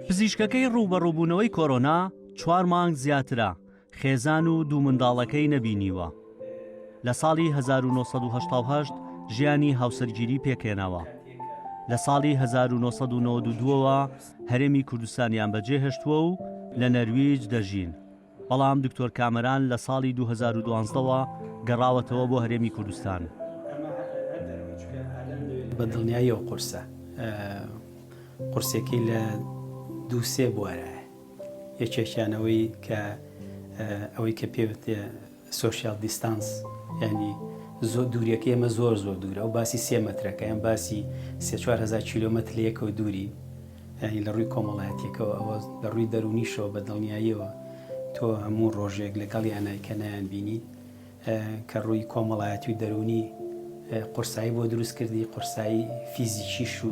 پزیشکەکەی ڕووبەڕووبوونەوەی کۆرۆنا چوار مانگ زیاترە خێزان و دوو منداڵەکەی نەبینیوە لە ساڵی 1970 ژیانی هاوسەرگیری پێکێناوە لە ساڵی 1992ەوە هەرێمی کوردستانیان بەجێهێشتووە و لە نەرویج دەژین، بەڵام دکتۆر کامەران لە ساڵی دوو هەزار و دوازدە وە گەڕاوەتەوە بۆ هەرێمی کوردستان. بە دڵنیاییەوە قورسە. قورسێکەی لە دوو سێ بوارایە. یەکێکیان ئەوەی کە ئەوەی کە پێوتێ سۆشیال دیستانس یانی زۆر دووریەکەی ئێمە زۆر زۆر دوورە ئەو باسی سێ مەترەکە یان باسی سێ چوار هەزار کیلۆمەتر لە یەکەوە دوورین یانی لە ڕووی کۆمەڵایەتیەکەەوە ئەوە لە ڕووی دەرونیشەوە بە دڵنیاییەوە تۆ هەموو ڕۆژێک لەگەڵ یانای کە نایان بینی کە ڕووی کۆمەڵایەتی و دەرونی قورسایی بۆ دروست کردی قورسایی فیزیکیش و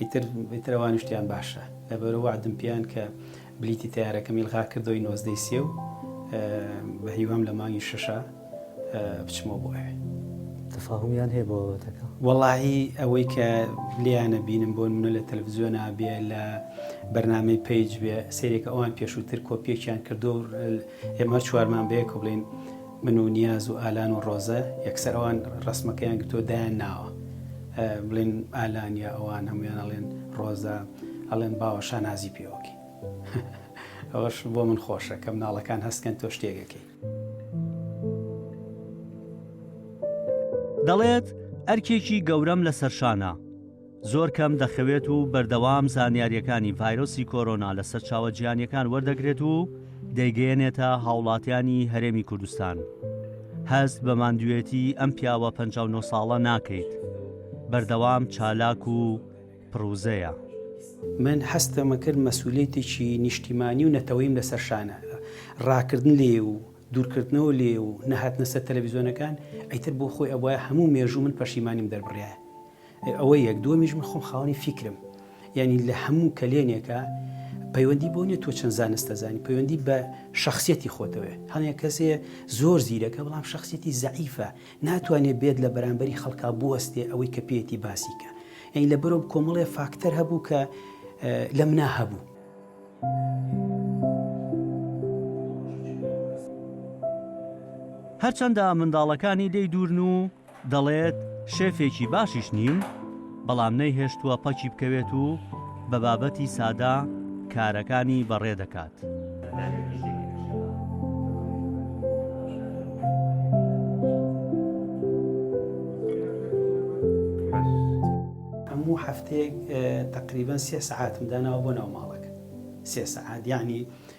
ئیتر ئیتر ئەوانیش تیان باشە لەبەرو وەعدم پیان کە بلیتی تەیارەکەم ئیلغا کردەوەی نۆزدەی سێ و بە هیوام لە مانگی شەشە بچمەوە بۆ ئەوێ تفاهمیان هەیە بۆەتەکە وەڵی ئەوەی کە لیانە بینم بۆ منە لە تەلەڤزیۆن نابێ لە بەرنمەی پیج بێ سێرێکە ئەوان پێشووتر کۆپیەکیان کردو ئێمە چوارمان بەیە کۆبلین من و نیاز و ئالان و ڕۆزە یەکسەر ئەوان ڕەسمەکەیان گرتووە دایان ناوە بڵێن ئالان یا ئەوان هەمویان ئەڵێن ڕۆزە ئەڵێن باوە شانازی پێوەکەی ئەوەش بۆ من خۆشە کەم ناڵەکان هەستکەن تۆ شتێگەکەی. دەڵێت، ئەرکێکی گەورەم لەسەرشانە. زۆر کەم دەخەوێت و بەردەوام زانیارییەکانی ڤایرۆسی کۆرۆنا لە سەرچاوە جیهانیەکان وەردەگرێت و دەیگەیەنێتە هاوڵاتیانی هەرێمی کوردستان هەست بە ماندوێتی ئەم پیاوە 59 ساڵە ناکەیت بەردەوام چالاک و پرۆزەیە من حەستەمە کرد مەسولێتێکی نیشتیمانی و نەتەوەیم لەسەر شانە ڕاکردن لێ و دوورکردنەوە لێ و نەهاتنەسە تەلەڤزیۆنەکان ئەیتر بۆ خۆی ئەوە هەموو مێژوو من پەشیمانیم دەربڕایە ئەوە یەک دووەمیش من خۆم خاوەنی فیکرم یعنی لە هەموو کەلێنێکە پەیوەندی بۆ نیە تۆ چەند زانستە زانی پەیوەندی بە شخصیەتی خۆتەوێ هەڵێک کەسێ زۆر زیرەکە بەڵام شخصیەتی زعیفە ناتوانێت بێت لە بەرامبەری خەڵکا بوەستێ ئەوەی کە پێێتی باسیکە یعنی لە بەرۆ کۆمەڵێ فاکتەر هەبوو کە لە منا هەبوو. هەرچەندە منداڵەکانی لێی دوورن و دەڵێت، شێفێکی باشیش نیم، بەڵام نەیهێشتووە پەکی بکەوێت و بە بابەتی سادە کارەکانی بەڕێ دەکات. هەموو هەفتەیەک تەقریبەن سێ سەعاتم داناوە بۆ ناو ماڵەکە، سێ سەعات یانی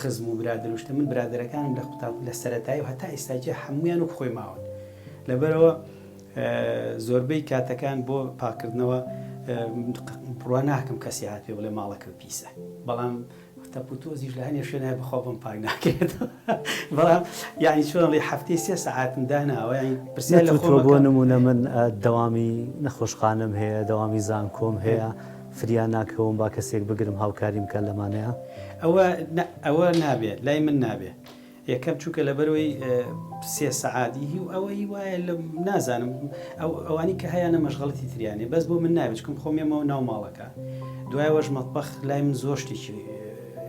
خزم و برادەر و شتە من برادەرەکانم لە قوتابخ لە سەرەتایی و هەتا ئیستا جیە حەموویان وەک خۆی ماون لەبەرەوە زۆربەی کاتەکان بۆ پاکردنەوە پڕوا ناکەم کەسی هات پێ بڵێ ماڵەکەم پیسە بەڵام تەپوتۆزیش لە هەنێ شوێنای بەخوا بم پاک ناکرێت بەڵام یعنی چۆن ڵی هەفتەی سێ سەعاتم داناوە پرسیار لە خۆ بۆ نمونە من دەوامی نەخۆشخانم هەیە دەوامی زانکۆم هەیە فریا ناکەوم با کەسێک بگرم هاوکاریم بکات لەمانەیا. ئەوە نا ئەوە نابێ لای من نابێ یەکەم چونکە لەبەرەوەی سێ سەعات ی و ئەوەی وایە لە نازانم ئەو ئەوانی کە هەیانە مەشغەڵەتی تریان هەیە بەس بۆ من نابێ چکم خۆم یەمەوە ناو ماڵەکە دوای ئەوەش مەتبەخ لای من زۆر شتێکی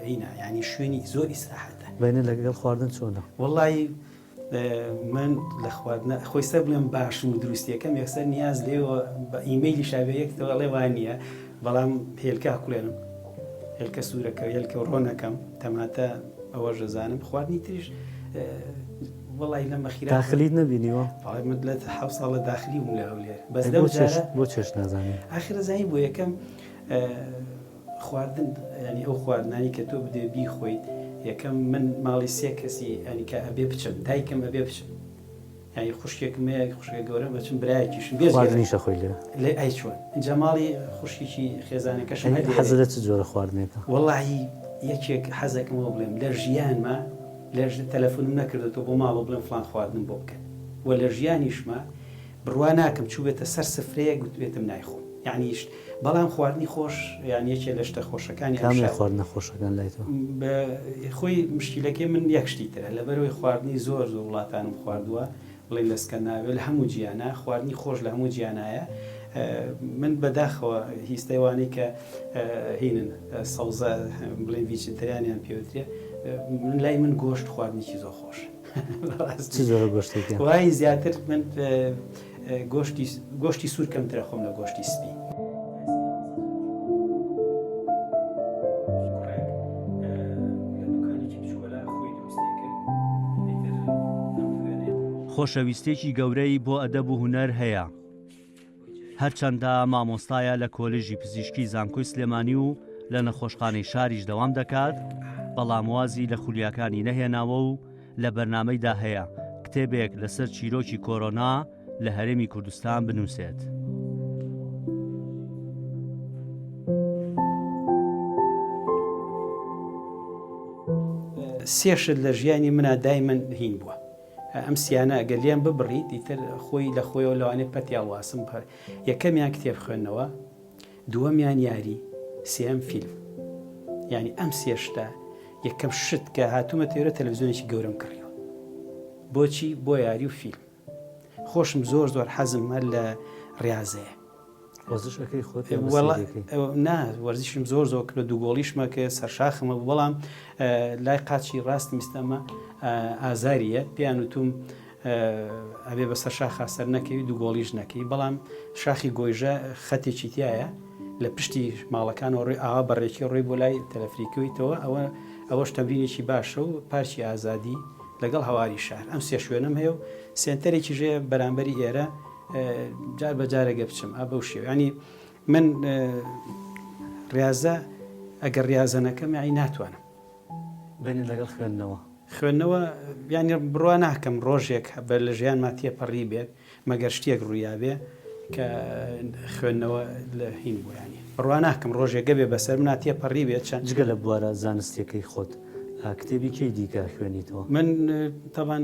هینە یانی شوێنی زۆر ئیسراحەتە. بەینە لەگەڵ خواردن چۆنە. وەڵایی من لە خواردنە خۆی سەر بڵێم باشم و دروستیەکەم یەکسەر نیاز لێەوە بە ئیمەیلی شاوێریەکەوە ئەڵێ وان نییە بەڵام هێلکە کوێنم هێلکە سوورەکە هێلکە ڕۆنەکەم تەماتە ئەوە ژەزانم خواردنی تریش وڵی لە مەخیرا داخلیت نبینیوە من لە ح ساڵە داخلی بوو لە هەولێر بەس بۆ چێش نازانانی ئاخرە زانی بۆ یەکەم خواردن یانی ئەو خواردنانی کە تۆ بدوێ بیخۆیت یەکەم من ماڵی سێ کەسی یانی کە ئەبێ بچم دایکم ئەبێ بچم یانی خوشکێکم هەیە خوشکە گەورەم ئەچم برایەکیشم بێ خواردنیش ئەخۆی لێ لێ ئەی چۆن ئینجا ماڵی خوشکێکی خێزانەکەشم هەیە حەزت لە چ جۆرە خواردنێکە وەڵاهی یەکێک حەزەکەم وەو بڵێم لە ژیانما لە تەلەفونم نەکردۆتەوە بۆ ماڵەوە بڵێم فڵان خواردنم بۆ بکەن وە لە ژیانیشما بڕوا ناکەم چووبێتە سەر سفرەیەک گوتبێتم نایخۆم یانی شت بەڵام خواردنی خۆش یان یەکێ لە شتە خۆشەکانی ئەم شارە. کامە خواردنە خۆشەکان لای تۆ؟ بە خۆی مشکیلەکەی من یەک شتی ترە لەبەرەوەی خواردنی زۆر زۆر وڵاتانم خواردووە بڵێ لە سکەناڤیا لە هەموو جیانا خواردنی خۆش لە هەموو جیانایە من بە داخەوە هیستەی وانەی کە هینن سەوزە بڵێ ڤیجیتریانیان پێوترێ من لای من گۆشت خواردنیی زۆر خۆشە. چ جۆرە گۆشتێکە؟ وای زیاتر من گۆشتی گۆشتی سوور کەمترە خۆم لە گۆشتی سپی. خۆشەویستێکی گەورەی بۆ ئەدەب و هونەر هەیە. هەرچەندە مامۆستایە لە کۆلێژی پزیشکی زانکۆی سلێمانی و لە نەخۆشخانەی شاریش دەوام دەکات، بەڵام وازی لە خولیاکانی نەهێناوە و لە بەرنامەیدا هەیە کتێبێک لەسەر چیرۆکی کۆرۆنا لە هەرێمی کوردستان بنووسێت. سێ شت لە ژیانی منا دایمن هین بووە. ئەم سیانە گەر لێم ببڕیت ئیتر خۆی لە خۆیەوە لەوانەیە پەتی هەڵواسم بە یەکەمیان کتێب خوێندنەوە دووەمیان یاری سێم فیلم یعنی ئەم سێ شتە یەکەم شت کە هاتوومە تێرە تەلەڤزیۆنێکی گەورم کڕیوە بۆچی بۆ یاری و فیلم خۆشم زۆر زۆر حەزم هەر لە ڕاضەیە نا وەرزشم زۆر زۆر کرد دوو گۆڵیشمە کە سەرشاخمە بەڵام لای قاچی ڕاست میستەمە ئازاریە پێیان وتوم ئەبێ بە سەر شاخا سەر نەکەوی دوو گۆڵیش نەکەی بەڵام شاخی گۆیژە خەتێکی تایە لە پشتی ماڵەکانەوە ڕێ ئاوا بەڕێکی ڕێ بۆ لای تەلەفریکەوەیتەوە ئەوە ئەوەش تەمرینێکی باشە و پارچی ئازادی لەگەڵ هەواری شار ئەم سێ شوێنم هەیە و سێنتەرێکی ژێ بەرامبەری ئێرە جار بە جارێگە بچم ئە بەو شێو ینی من ڕاضە ئەگەر ڕاضەنەکەم یاعی ناتوانم بێنی لەگەڵ خوێندنەوە خوێندنەوە ینی بڕوا ناکەم ڕۆژێک بە لە ژیان ماتیە پەڕی بێت مەگەر شتێک ڕوویاێ کە خوێندنەوە لە هین بۆیانی بڕوا ناکەم ڕۆژێکگە بێ بەسەر مناتیە پەڕی بێت چەند جگە لە بوارە زانستیەکەی خۆت کتێبی کەی دیکە خوێنیتەوە من تاوان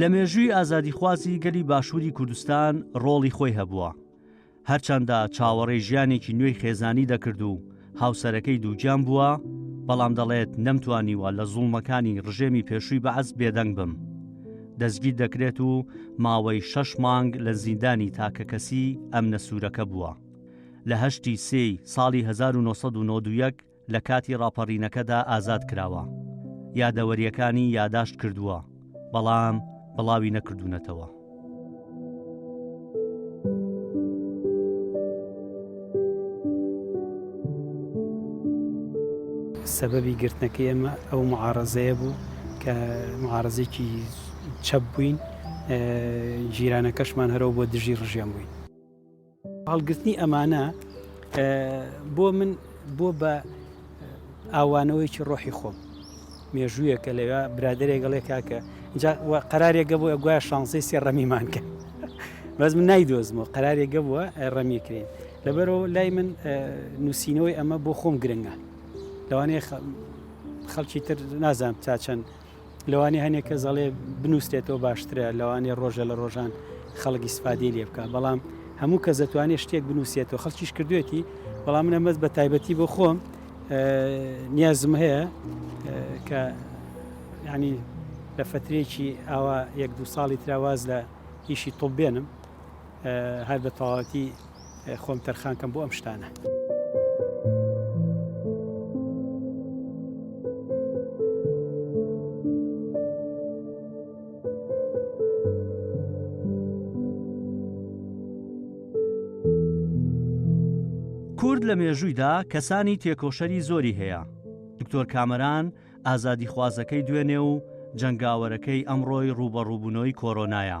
لە مێژووی ئازادیخوازی گەلی باشووری کوردستان ڕۆڵی خۆی هەبووە هەرچەندە چاوەڕێ ژیانێکی نوێی خێزانی دەکرد و هاوسەرەکەی دووگیان بووە بەڵام دەڵێت نەمتوانیوە لە زوڵمەکانی ڕژێمی پێشووی بەعز بێدەنگ بم دەستگیر دەکرێت و ماوەی شەش مانگ لە زیندانی تاکەکەسی ئەم نەسوورەکە بووە. لە هەشتی سێی ساڵی هەزار و نۆ سەد و نەوەد و یەک لە کاتی ڕاپەڕینەکەدا ئازاد کراوە. یادەوەرییەکانی یاداشت کردووە، بەڵام بڵاوی نەکردوونەتەوە. سەبەبی گرتنەکەی ئێمە ئەو معارەزەیە بوو کە معارەزێکی چەپ بووین، جیرانەکەشمان هەرەوە بۆ دژی ڕژێم بووین. هەڵگرتنی ئەمانە بۆ من بۆ بە ئاوانەوەیکی ڕۆحی خۆم مێژوویەکە لەوێ برادێکگەڵێ کاکە قرارێکگە بۆ گویا شانسی سێ ڕەمیمان کرد بەس من نایدۆزمەوە قرارێکگە بووە ڕەمیکرێن لەبەرەوە لای من نووسینەوەی ئەمە بۆ خۆم گرنگە لەوانەیە خەڵکی تر نازانام تا چەند لەوانەیە هەنێک کەس ئەڵێ بنووسێتەوە باشترە لەوانەیە ڕۆژە لە ڕۆژان خەڵک ئیسفادەی لێ بکە بەڵام هەموو کەس دەتوانێت شتێک بنووسێتەوە خەڵکیش کردوێتی بەڵام منە مەز بە تایبەتی بۆ خۆم نیازم هەیە کە ینی لە فترێکی ئاوا یەک دو ساڵی تراواز لە ئیشی تۆ بێنم هەر بە تەواوەتی خۆم تەرخان کەم بۆ ئەم شتانە. کورد لە مێژوویدا کەسانی تێکۆشەری زۆری هەیە دکتۆر کامەران ئازادی خوازەکەی دوێنێ و جەنگاوەرەکەی ئەمڕۆی ڕوبەڕووبوونەوەی کۆرۆنایە